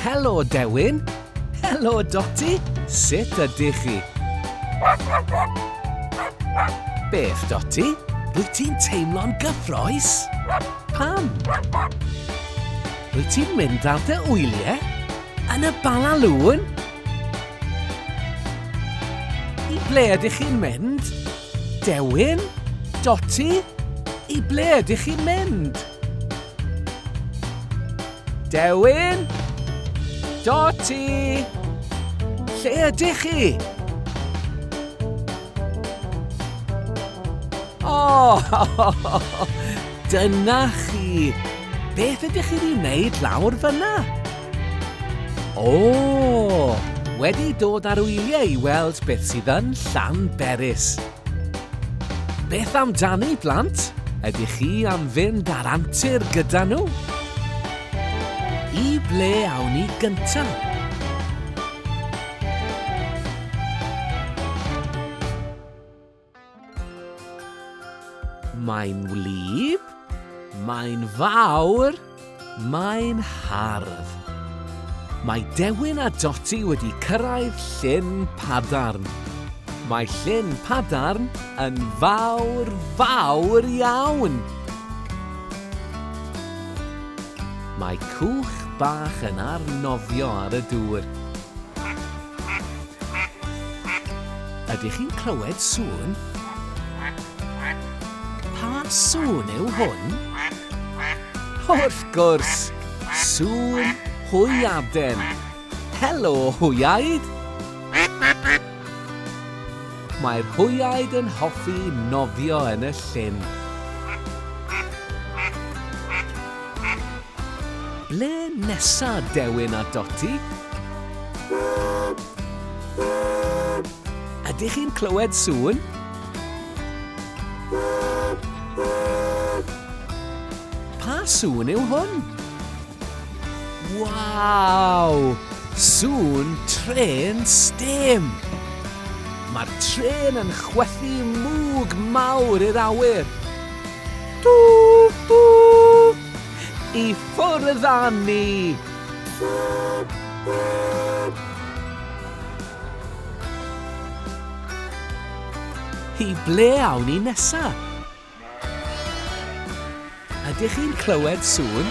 Helo, Dewin. Helo, Dotty. Sut ydych chi? Beth, Dotty? Rwyt ti'n teimlo'n gyffroes? Pam? Rwyt ti'n mynd ar dy wyliau? Yn y bala lŵn? I ble ydych chi'n mynd? Dewin? Dotty? I ble ydych chi'n mynd? Dewin? Dotty? Lle ydych chi? O! Oh, dyna chi! Beth ydych chi wedi wneud lawr fyna? O! Wedi dod ar wyliau i weld beth sydd yn Llanberis. Beth amdani, blant? Ydych chi am fynd ar antur gyda nhw? I ble awn ni gyntaf? Mae'n wlyb, mae'n fawr, mae'n hardd. Mae Dewin a Doti wedi cyrraedd llyn padarn. Mae llyn padarn yn fawr, fawr iawn. Mae cwch bach yn arnofio ar y dŵr. Ydych chi'n clywed sŵn? Pa sŵn yw hwn? Wrth gwrs! Sŵn hwyaden! Helo, hwyaid! Mae'r hwyaid yn hoffi nofio yn y llyn. Ble nesa Dewin a Doti? Ydych chi'n clywed sŵn? Pa sŵn yw hwn? Waw! Sŵn trên stêm! Mae'r trên yn chwythu mwg mawr i'r awyr. Twf, twf! I ffwrdd â ni! I ble awn ni nesa? Ydych chi'n clywed sŵn?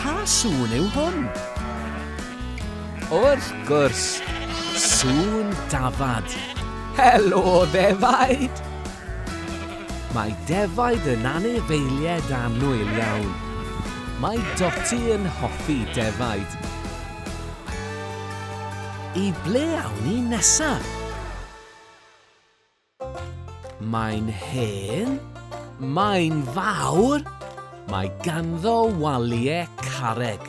Pa sŵn yw hwn? Wrth gwrs, sŵn dafad! Helo ddefaid! Mae defaid yn anifeilied annwyl iawn. Mae Dotty yn hoffi defaid. I ble awn ni nesaf? Mae'n hen. Mae'n fawr. Mae ganddo waliau carreg.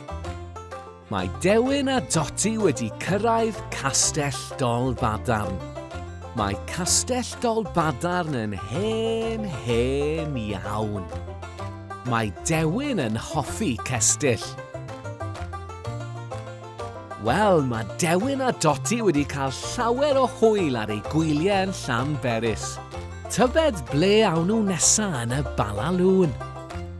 Mae Dewin a Doti wedi cyrraedd Castell Dolbadarn. Mae Castell Dolbadarn yn hen, hen iawn. Mae Dewin yn hoffi cestyll. Wel, mae Dewin a Doti wedi cael llawer o hwyl ar eu gwyliau yn Llanberis. Tybed ble awn nhw nesa yn y Bala Lŵn?